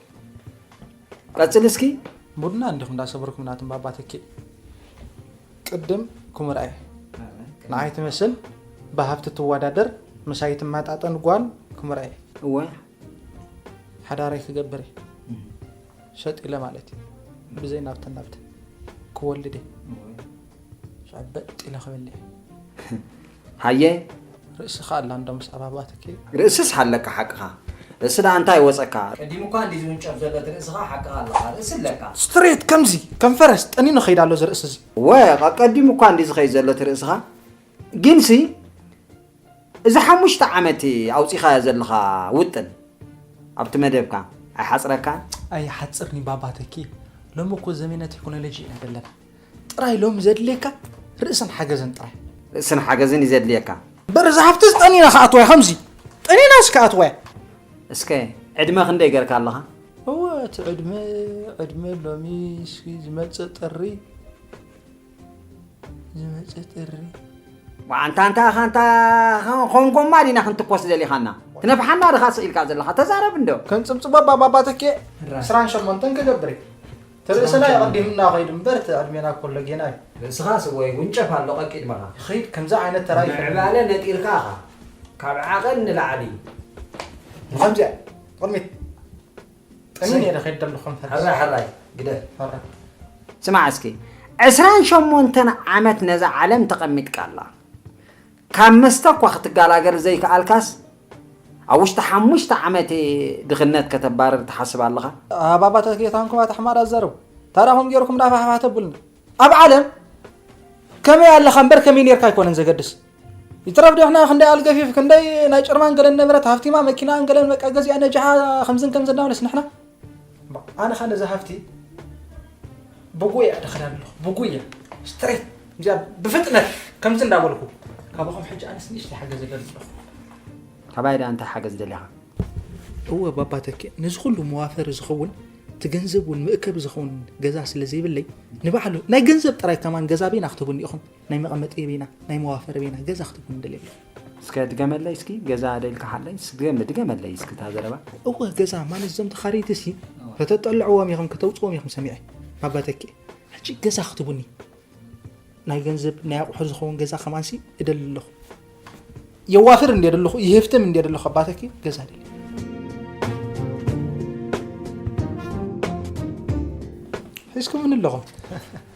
ቀፅል እስኪ ቡና እንዲኹም እንዳሰበርኩም ናትም ባባ ትኪ ቅድም ኩምርኣይ ንዓይ ትመስል ብሃብቲ ትወዳደር ምሳይ ትመጣጠን ጓል ኩምርኣይ እወ ሓዳረይ ክገብር ሸጢለ ማለት እዩ ብዘይ ናብትን ናብትን ክወልድ እየ ሸበጥ ኢለ ክበልዕ ሃየ ርእስኻ ኣላ እንዶ ምስ ኣባባትኪ ርእስስ ሃለካ ሓቅኻ ርእሲ ደኣ እንታይ ወፀካ ቀዲሙ እኳ እንዲ ዝውንጨፍ ዘሎ እቲ ርእስኻ ሓቅኻ ኣለኻ ርእሲ ኣለካ ስትሬት ከምዚ ከም ፈረስ ጠኒኑ ከይድ ኣሎ እዚ ርእሲ እዚ ወ ቀዲሙ እኳ እንዲ ዝኸይድ ዘሎ እቲ ርእስኻ ግንሲ እዚ ሓሙሽተ ዓመት ኣውጺኻዮ ዘለኻ ውጥን ኣብቲ መደብካ ኣይሓጽረካን? ኣይሓጽርን'ዩ ባባ ተኪኤ፣ ሎሚ እኮ ዘመነ ቴክኖሎጂ ኢና ዘለና። ጥራይ ሎሚ ዘድልየካ ርእስን ሓገዝን ጥራይ። ርእስን ሓገዝን እዩ ዘድልየካ። እምበር እዛ ሃፍትስ ጠኒና ክኣትዋ እያ ከምዚ ጠኒናስ ክኣትዋ እያ። እስከ ዕድመ ክንደይ ገርካ ኣለኻ? እወ እቲ ዕድመ ዕድመ ሎሚ እስኪ ዝመጽእ ጥሪ ዝመፀ ጥሪ ዋንታ እንታ ኻንታ ኾን ጎማ ዲና ክንትኮስ ደሊኻና ትነፍሓና ድኻ ስኢልካ ዘለኻ ተዛረብ እንዶ ከም ፅብፅቦ ባባባተኬ ዕስራን ሸሞንተን ክገብር እዩ ተርእስና የቐዲምና ከይዱ እምበር እቲ ዕድሜና ኮሎ ጌና እዩ ርእስኻ ስወይ ውንጨፍ ኣሎ ቀቂድመኻ ይኸይድ ከምዚ ዓይነት ተራ ምዕባለ ነጢርካ ኢኻ ካብ ዓቐን ንላዕሊ ንከምዚኣ ቅድሚት ጠኒ ነይረ ከይድ ደሎ ኮንፈረንስ ሕራይ ሕራይ ግደ ሕራይ ስማዕ እስኪ ዕስራን ሸሞንተን ዓመት ነዛ ዓለም ተቐሚጥካ ኣላ ካብ መስተ እኳ ክትጋላገር ዘይከኣልካስ ኣብ ውሽጢ ሓሙሽተ ዓመት ድኽነት ከተባርር ትሓስብ ኣለኻ ኣባባታት ጌታንኩም ኣታሕማር ኣዛረቡ ታራኹም ጌርኩም ናፋሕፋሕ ተብሉኒ ኣብ ዓለም ከመይ ኣለኻ እምበር ከመይ ነርካ ኣይኮነን ዘገድስ ይትረፍ ዴሕና ክንደይ ኣልገፊፍ ክንደይ ናይ ጭርማን ገለን ነበረት ሃፍቲማ መኪናን ገለን በቃ ገዚኣ ነጃሓ ከምዝን ከምዝን ዳውነስ ንሕና ኣነ ኸ ነዚ ሃፍቲ ብጉያ ደኸዳ ኣለኹ ብጉያ ስትሬት እዚኣ ብፍጥነት ከምዚ እንዳበልኩ ካባኹም ሕጂ ኣነስ ንእሽተይ ሓገዝ ይደሊ ኣለኹ ካባይ ዳ እንታይ ሓገዝ ደሊኻ እወ ባባ ተኪ ነዚ ኩሉ መዋፈሪ ዝኸውን እቲ ገንዘብ እውን መእከቢ ዝኸውን ገዛ ስለ ዘይብለይ ንባዕሉ ናይ ገንዘብ ጥራይ ከማን ገዛ ቤና ክትብኒ ኢኹም ናይ መቀመጢ ርቢና ናይ መዋፈ ርቢና ገዛ ክትብሉ ንደሊ ኣለኹ። እስከ ድገመለይ እስኪ ገዛ ዶ ኢልካ ሓለይ እስኪ ድገመለይ እስኪ እታ ዘረባ እወ ገዛ ማለት እዞም ተኻረይቲ ሲ ከተጠልዕዎም ኢኹም ከተውፅዎም ኢኹም ሰሚዐ ኣባተኪ ሕጂ ገዛ ክትቡኒ ናይ ገንዘብ ናይ ኣቑሑ ዝኸውን ገዛ ከማንሲ እደሊ ኣለኹ የዋፍር እንደ ደለኹ ይህፍትም እንደ ደለኹ ኣባተኪ ገዛ ደሊ ሒዝኩምኒ ኣለኹም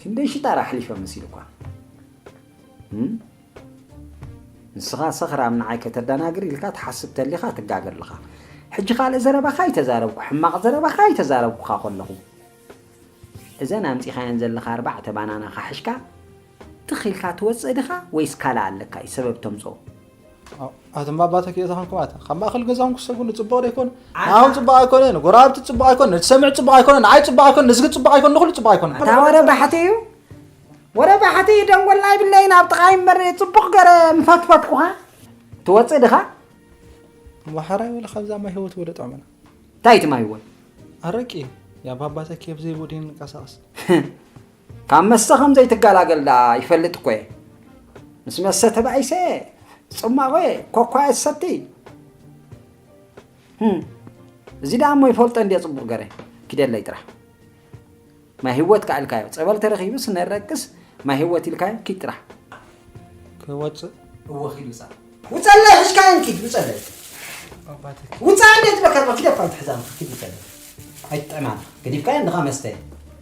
ክንደይ ሽጣራ ኣሕሊፈ መሲሉኳ ንስኻ ሰኽራም ንዓይ ከተደናግር ኢልካ ትሓስብ ተሊኻ ትጋገ ኣለኻ ሕጂ ካልእ ዘረባኻ ኣይተዛረብኩ ሕማቕ ዘረባኻ ኣይተዛረብኩኻ ከለኹ እዘን ኣምፂኻየን ዘለኻ ኣርባዕተ ባናና ካሕሽካ ትኽ ኢልካ ትወጽእ ድኻ ወይስ ካልእ ኣለካ እዩ ሰበብ ተምጽኦ። ኣቶም ባባ ተኪኦታ ኮንኩም ኣታ ካብ ማእኸል ገዛኹም ክሰጉሉ ፅቡቕ ዶ ኣይኮነ ንዓኹም ፅቡቕ ኣይኮነ ንጎረባብቲ ፅቡቕ ኣይኮነ ንትሰምዕ ፅቡቕ ኣይኮነ ንዓይ ፅቡቕ ኣይኮነ ንዝጊ ፅቡቕ ኣይኮነ ንኹሉ ፅቡቕ ኣይኮነ ኣታ ወረ ባሕቲ እዩ ወረ ባሕቲ እዩ ደንጎልና ይብለይን ኣብ ጥቓይ እምበር ፅቡቕ ገረ ምፈትፈትኩኻ ትወፅእ ድኻ ማሓራይ ወለ ካብዛ ማይ ህይወት ወለ ጥዕምና እንታይ እቲ ማይ ህይወት ኣረቂ እዩ ያ ባባ ተኪ ኣብዘይቦ ድንቀሳቐስ ካብ መስተ ከም ዘይትገላገል ደኣ ይፈልጥ እኮ እየ። ምስ መስተ ተባኢሰ እየ። ጽማቝ እየ፣ ኮኳ እየ ዝሰቲ። ህም፣ እዚ ደኣ እሞ ይፈልጦ እንድየ ጽቡቕ ገረ ኪደለይ ጥራሕ። ማይ ህይወት ከኣ ኢልካዮ፣ ጸበል ተረኺቡስ ነረቅስ ማይ ህይወት ኢልካዮ ኪድ ጥራሕ። ክወጽእ እወ ኪድ ውጻእ። ውጸለይ ሕሽካየን ኪድ ውጸለይ። ኣባትኪ ውጻእ እንዴ ዝበከር ኪድ ኣፋን ትሕዛን ኪድ ውጸለይ። ኣይትጥዕማን ገዲፍካዮ እንድኻ መስተ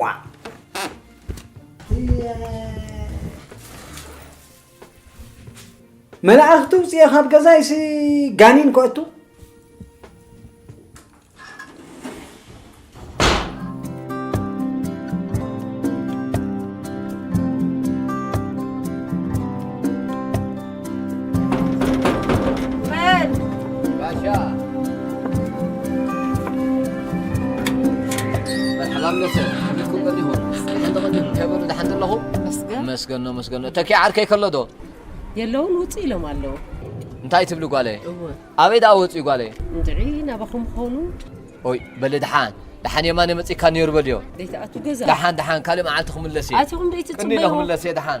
ዋ መላእኽቲ ውፅኤ ካብ ገዛይሲ ጋኒን ከእቱ መስገኖ መስገኖ ተኪ ዓርከይ ከሎ ዶ የለውን ውፅ ኢሎም ኣለዉ እንታይ ትብሊ ጓለይ ኣበይ ደኣ ወፅኡ ጓለይ እንድዒ ናባኹም ኾኑ ኦይ በሊ ድሓን ድሓን የማነ መፂካ ነይሩ በልዮ ደይትኣቱ ገዛ ድሓን ድሓን ካልእ መዓልቲ ክምለስ እየ ኣቲኹም ደይትፅበዩ ክምለስ እየ ድሓን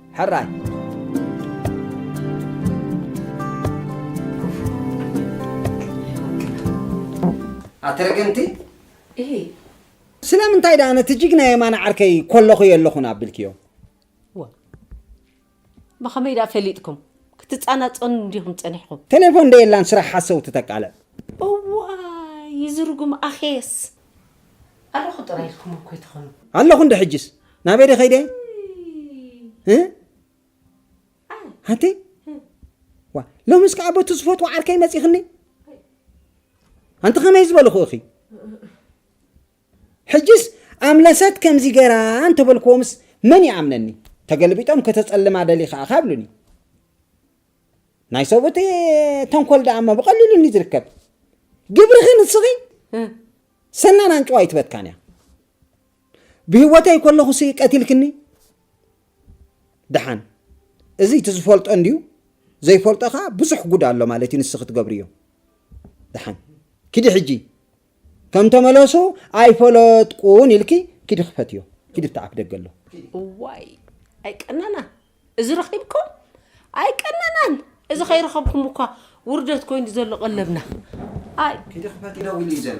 ሕራይ። ኣተረገንቲ እሂ ስለምንታይ ደኣ ነቲ ጅግና የማነ ዓርከይ ኮለኹ የለኹን ኣብልክዮ ብኸመይ ደኣ ፈሊጥኩም ክትፃናፀኑ እንዲኹም ፀኒሕኹም ቴሌፎን ደየላን ስራሕ ሓሰውቲ ተቃልዕ እዋይ ይዝርጉም ኣኼስ ኣለኹ ጥራይ ኢልኩም እኮ ኣይትኾኑ ኣለኹ እንደ ሕጅስ ናበይ ደ ከይደ ሓንቲ ዋ ሎምስ ከዓ በቱ ዝፈትዎ ዓርከይ መፂኽኒ ኣንቲ ከመይ ዝበልኹ እኺ ሕጅስ ኣምለሰት ከምዚ ገራ እንተበልክዎምስ መን ይኣምነኒ ተገልቢጦም ከተፀልማ ደሊኻ እኻ ብሉኒ ናይ ሰብኡት ተንኮል ደኣ እሞ ብቐሊሉ እንዩ ዝርከብ ግብርኺ ንስኺ ሰናን ኣንጭዋ ኣይትበትካን እያ ብህወተይ ከለኹ ሲ ቀቲልክኒ ደሓን እዚ እቲ ዝፈልጦ እንድዩ ዘይፈልጦ ከዓ ብዙሕ ጉድ ኣሎ ማለት እዩ ንስኺ ትገብርዮ ደሓን ኪዲ ሕጂ ከም ተመለሱ ኣይፈለጥቁን ኢልኪ ኪዲ ክፈትዮ ኪዲ እቲ ኣፍደገ ኣሎ እዋይ ኣይቀናና እዚ ረኺብኩም ኣይቀናናን እዚ ከይረኸብኩም እኳ ውርደት ኮይኑ ዘሎ ቀለብና ኣይ ኪዲ ክፈትዮ ደዊሉ እዩ ዘሎ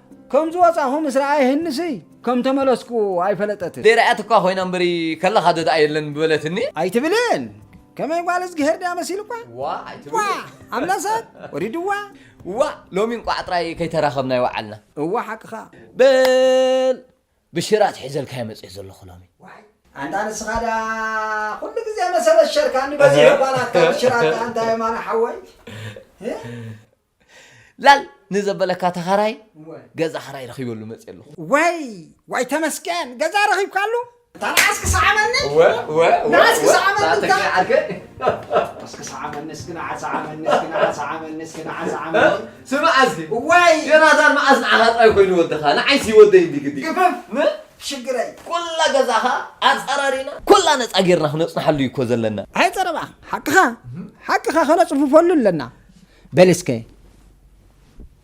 ከም ዝወጻኹ ምስ ረኣየ ህንሲ ከም ተመለስኩ ኣይፈለጠትን። ዘይረኣያት እኳ ኮይና እምበሪ ከለኻ ዶ ደኣ የለን ምበለትኒ። ኣይትብልን ከመይ ጓል እዝግሄር ድያ መሲልኳ ዋእ ኣይትብልን። ዋእ ኣምላ ሰብ ወሪድዋ ዋእ ሎሚ እንቋዕ ጥራይ ከይተራኸብና ይወዓልና። እወ ሓቅኻ በል ብሽራት ሒዘልካዮ መጺኤ ዘለኹ ሎሚ። ኣንታ ንስኻ ድኣ ኩሉ ግዜ መሰለሸርካኒ በዚሑ እኳ ናትካ ብሽራት ድኣ እንታይ እዮ ማራ ሓወይ። ላል ንዘበለካ ተኻራይ ገዛ ክራይ ረኺበሉ መፅየ ኣለኹ። ዋይ ዋይ ተመስገን ገዛ ረኺብካሉ። እታ ንዓስ ክሰዓመኒ ንዓስ ክሰዓመኒ እስኪ ሰዓመኒ እስኪ ንዓ ሰዓመኒ እስኪ ንዓ ሰዓመኒ እስኪ ንዓ ሰዓመኒ ስማዕ እስኪ ዋይ ዮናታን መዓስ ንዓኻ ጥራይ ኮይኑ ወድኻ ንዓይሲ ይወደይ እንዲ ግዲ ግፍፍ ሽግረይ ኩላ ገዛኻ ኣፀራሪና ኩላ ነፃ ጌርና ክነፅንሓሉ እዩ እኮ ዘለና። ኣይ ፀረባ ሓቅኻ ሓቅኻ ከነፅፍፈሉ ኣለና። በል እስከ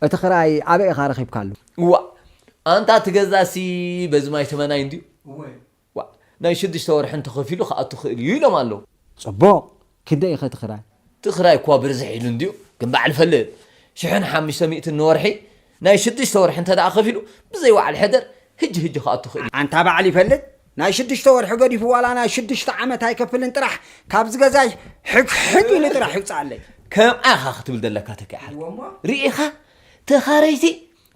እቲ ክራይ ኣበይ ኢኻ ረኺብካሉ? ዋእ ኣንታ እቲ ገዛሲ በዚ ማይ ተመናይ እንድዩ ዋእ ናይ ሽዱሽተ ወርሒ እንተኸፊሉ ክኣቱ ይኽእል እዩ ኢሎም ኣለዉ። ጽቡቕ ክንደይ እዩኸ እቲ ክራይ? እቲ ክራይ እኳ ብርዝሕ ኢሉ እንድዩ ግን በዓል ፈለዮ ሽሕን ሓምሽተ ሚእትን ንወርሒ ናይ ሽዱሽተ ወርሒ እንተደኣ ከፊሉ ብዘይ ወዓል ሕደር ህጂ ህጂ ክኣቱ ይኽእል እዩ። ኣንታ ባዕል ይፈልጥ ናይ ሽዱሽተ ወርሒ ገዲፉ ዋላ ናይ ሽዱሽተ ዓመት ኣይከፍልን ጥራሕ ካብዚ ገዛይ ሕግሕግ ኢሉ ጥራሕ ይውጻኣለይ። ከምኣ ኢኻ ክትብል ዘለካ ተኪኣ ሓልካ ርኢኻ ተኻረይቲ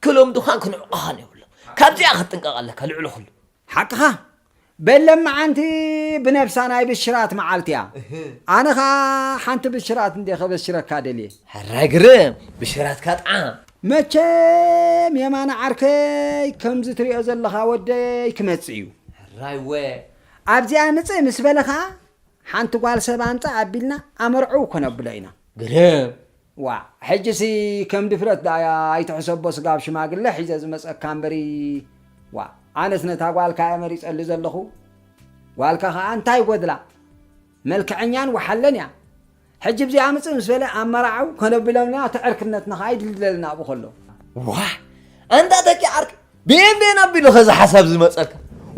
ክለምዱኻን ክንዕቁኻን የብሎም ካብዚኣ ክትጥንቀቕ ኣለካ ልዕሊ ኩሉ። ሓቅኻ በል ለማዓንቲ ብነብሳ ናይ ብሽራት ማዓልቲ እያ ኣነ ካኣ ሓንቲ ብሽራት እንዴ ከበሽረካ ደልየ። ሕራይ ግርም ብሽራትካ ጥዓ። መቸም የማነ ዓርከይ ከምዚ ትሪኦ ዘለኻ ወደይ ክመጽእ እዩ። ሕራይ ወ። ኣብዚኣ ምጽእ ምስ በለ ካኣ ሓንቲ ጓል ሰብ ኣምጽእ ኣቢልና ኣመርዕው ከነብሎ ኢና። ግርም ዋእ ሕጂሲ ከም ድፍረት ዳኣ ኣይትሕሰቦ ስጋብ ሽማግለ ሒዘ ዝመጸካ እምበሪ ዋእ ኣነስ ነታ ጓልካ እየ መሪጸሉ ዘለኹ ጓልካ ካኣ እንታይ ይጎድላ መልከዐኛን ወሓለን እያ ሕጂ ብዚኣ ምጽእ ምስ በለ ኣመራዕው ከነቢሎምና እቲ ዕርክነትና ካኣ ይድልድለልና ኣብኡ ከሎ። ዋእ ኣንታ ተኪ ዓርኪ ብኤን ብኤን ኣቢሉ ከዚ ሓሳብ ዝመፀካ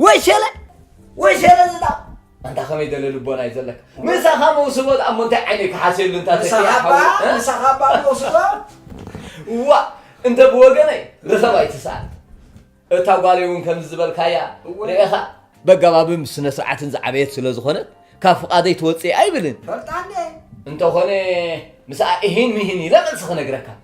ወሸለ ወሸለ ዝዳ ኣንታ ከመይ ደለ ልቦና እዩ ዘለካ ምሳኻ መውስቦ ኣ እሞ እንታይ ዓይነት ክሓስየሉ እንታ ምሳኻ ባ መውስቦ ዋ እንተ ብወገነይ ርኸብ ኣይትስኣል እታ ጓለይ እውን ከምዚ ዝበልካያ ርኤኻ በጋባብም ስነ ስርዓትን ዝዓበየት ስለ ዝኾነት ካብ ፍቓደይ ትወፅእ ኣይብልን ፈልጣ እንተኾነ ምስኣ እሂን ምሂን ኢለ መልሲ ክነግረካ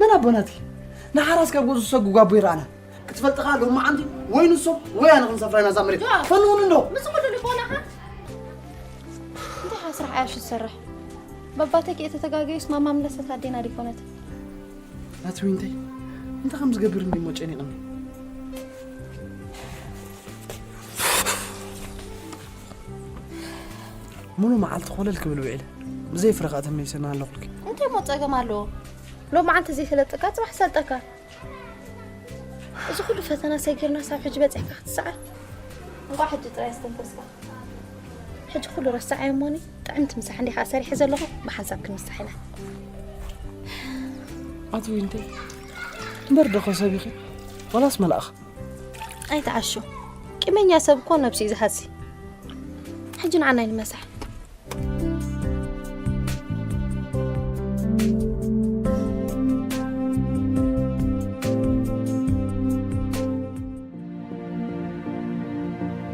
መን ኣቦና እቲ ንሓራስ ካብ ገዝኡ ዝሰጉ ጓቦ ይረኣና ክትፈልጥ ከኣ ሎማዓንቲ ወይ ንሶም ወይ ኣነ ክንሰፍራ ኢና እዛ መሬት ፈንውን እንዶ ምስ ኩሉ ልቦናኻ እንተ ስራሕ ኣያሹ ዝሰርሕ በባተኪ እተተጋገዩስ ማማ ምለሰት ኣዴና ዲኮነት ናቲ ዊንተይ እንታይ ከም ዝገብር እንዲሞ ጨኒቕኒ ሙሉ መዓልቲ ኮለል ክብል ውዒለ ብዘይ ፍረ ከዓ ተመሊሰ እናሃለኹልኪ እንታይ ሞ ፀገም ኣለዎ ሎ መዓልቲ ዘይሰለጠካ ፅባሕ ሰልጠካ እዚ ኩሉ ፈተና ሰጊርና ሳብ ሕጂ በፂሕካ ክትሰዓር እንኳዕ ሕጂ ጥራይ ኣስተንፈስካ ሕጂ ኩሉ ረሳዓዮ እሞኒ ጥዕምቲ ምሳሕ እንዲኻ ሰሪሐ ዘለኹ ብሓንሳብ ክንምሳሕ ኢና ኣቶ ዊንተይ እምበር ደኸ ሰብ ኢኺ ዋላስ መልኣኽ ኣይትዓሹ ቂመኛ ሰብ እኮ ነብሱ እዩ ዝሃሲ ሕጂ ንዓና ይንመሳሕ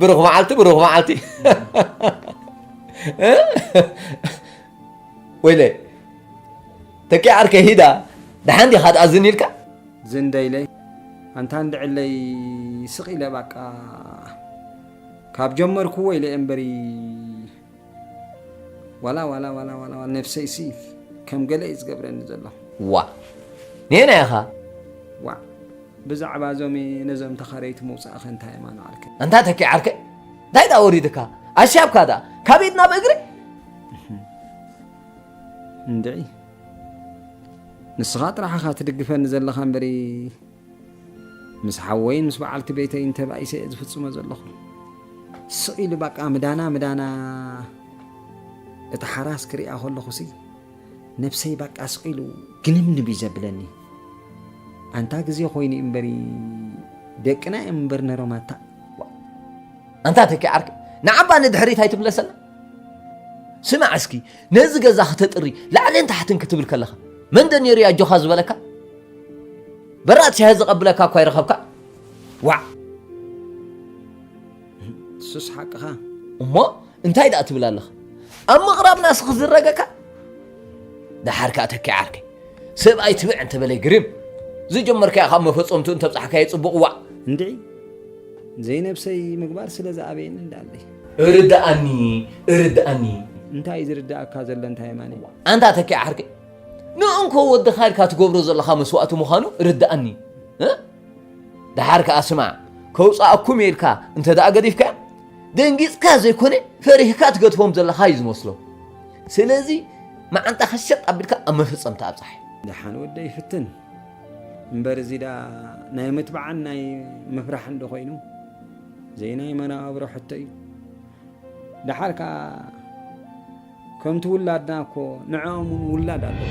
ብሩኽ መዓልቲ ብሩኽ መዓልቲ ወይለ ተኪ ዓርከ ሂዳ ደሓን ዲኻ ትኣዝኒ ኢልካ ዝንደይለይ ኣንታ እንድዕለይ ስቕ ኢለ ባቃ ካብ ጀመርክዎ ኢለ እምበሪ ዋላ ዋላ ዋላ ዋላ ዋላ ነብሰይ ሲ ከም ገለ እዩ ዝገብረኒ ዘሎ። ዋእ ኔና ኢኻ። ዋእ ብዛዕባ እዞም ነዞም ተኸረይቲ ምውጻእኸ እንታይ እማ ንዓርከ። ኣንታ ተኪ ዓርከ እንታይ ደኣ ወሪድካ ኣሻብካ ደኣ ካብ ኢድ ናብ እግሪ እንድዒ ንስኻ ጥራሕ ኢኻ ትድግፈኒ ዘለኻ እምበሪ ምስ ሓወይን ምስ በዓልቲ ቤተይን ተባኢሰ እየ ዝፍጽሞ ዘለኹ። ስቕ ኢሉ ባቃ ምዳና ምዳና እታ ሓራስ ክሪኣ ከለኹሲ ነብሰይ ባቃ ስቕ ኢሉ ግንብንብ እዩ ዘብለኒ። ኣንታ ግዜ ኮይኑ እዩ እምበሪ ደቅና እዮም እምበር ነሮም ኣታ ኣንታ ተኪ ዓርኪ ንዓባ ንድሕሪት ኣይትምለሰና ስማዕ እስኪ ነዚ ገዛ ክተጥሪ ላዕልን ታሕትን ክትብል ከለኻ መን ዶ ነይሩ እዩ ኣጆኻ ዝበለካ? በራድ ሻሂ ዘቐብለካ እኳ ይረኸብካ? ዋዕ! ንሱስ ሓቅኻ። እሞ እንታይ ደኣ ትብል ኣለኻ? ኣብ ምቕራብና ስኽ ዝረገካ ደሓር ከኣ ተኪ ዓርከይ ሰብኣይ ትብዕ እንተበለይ ግርም ዝጀመርካዮ ካብ መፈጸምትኡ እንተብጻሕካዮ ጽቡቕ ዋዕ እንድዒ ዘይነብሰይ ምግባር ስለ ዝኣበየኒ እንዳለይ እርድኣኒ እርድኣኒ እንታይ እዩ ዝርድኣካ ዘሎ እንታይ የማነ ኣንታ ተኪ ዓርከይ ንእንኮ ወድኻ ኢልካ ትገብሮ ዘለኻ መስዋእቲ ምዃኑ ርድኣኒ እ? ድሓር ከዓ ስማዕ ከውፃኣኩም እየ ኢልካ እንተ ደኣ ገዲፍካ ደንጊፅካ ዘይኮነ ፈሪህካ ትገድፎም ዘለኻ እዩ ዝመስሎ ስለዚ መዓንጣ ከሸጥ ኣቢልካ ኣብ መፈፀምቲ ኣብፃሕ ድሓን ወደይ ፍትን እምበር እዚ ደኣ ናይ ምትብዓን ናይ ምፍራሕን ዶ ኮይኑ ዘይናይ መነባብሮ ሕቶ እዩ ደሓር ከዓ ከምቲ ውላድና እኮ ንዕኦም እውን ውላድ ኣለዎ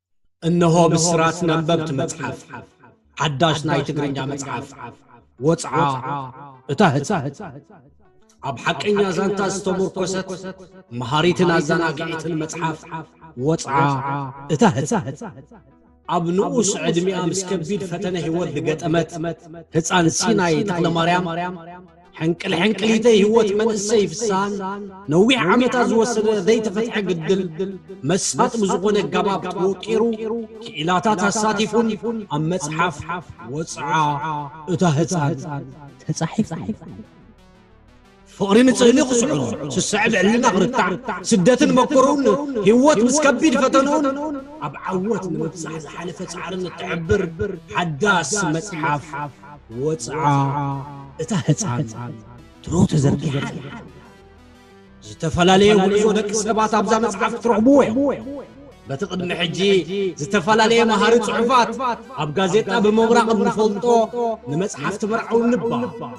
እነሆ ብስራት ነንበብቲ መጽሓፍ ሓዳሽ ናይ ትግርኛ መጽሓፍ ወጽዓ እታ ህጻን ኣብ ሓቀኛ ዛንታ ዝተሞርኮሰት መሃሪትን ኣዘናግዒትን መጽሓፍ ወጽዓ እታ ህጻን ኣብ ንኡስ ዕድሚኣ ምስ ከቢድ ፈተነ ህይወት ዝገጠመት ህፃን ሲናይ ተክለማርያም ሕንቅል ሕንቅሊተይ ህይወት መንእሰይ ፍስሃን ነዊሕ ዓመታት ዝወሰደ ዘይተፈትሐ ግድል መሳጥ ብዝኾነ ኣጋባብ ተወቂሩ ክኢላታት ኣሳቲፉን ኣብ መፅሓፍ ወፅዓ እታ ህፃን ተፃሒፉ ፍቕሪ ንፅህሊ ክስዕሩ ስስዐ ብዕልና ክርታዕ ስደትን መኮሩን ህይወት ምስ ከቢድ ፈተንኡን ኣብ ዓወት ንምብፃሕ ዝሓለፈ ፃዕርን እትሕብር ሓዳስ መፅሓፍ ወጽዓ እታ ህጻን ድሮ ተዘርጊሓ ኣላ። ዝተፈላለየ ጉዕዞ ደቂ ሰባት ኣብዛ መጽሓፍ ክትረኽብዎ ኢኹም። በቲ ቅድሚ ሕጂ ዝተፈላለየ መሃሪ ጽሑፋት ኣብ ጋዜጣ ብምብራቕ እንፈልጦ ንመጽሓፍቲ መርዓዊ ንባ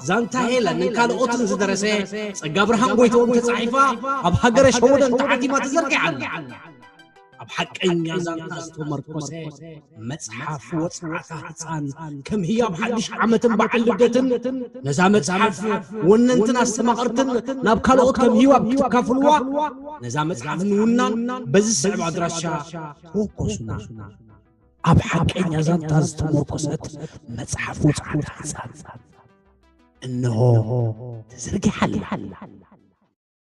ዛንታ ሄለንን ካልኦትን ዝደረሰ ጸጋብርሃን ጎይትኦም ተጻሒፋ ኣብ ሃገረ ሸወደን ተሓቲማ ተዘርጊሓ ኣላ። ኣብ ሓቀኛ ዛንታ ዝተመርኮሰ መጽሓፍ ወጽዓታ ህጻን ከም ህያብ ሓድሽ ዓመትን በዓል ልደትን ነዛ መጽሓፍ ወነንትን ኣስተማቐርትን ናብ ካልኦት ከም ህያብ ክትካፍልዋ ነዛ መጽሓፍ ንውናን በዚ ዝስዕብ ኣድራሻ ተወከሱና ኣብ ሓቀኛ ዛንታ ዝተመርኮሰት መጽሓፍ ወጽዓታ ህጻን እነሆ ተዘርጊሓላ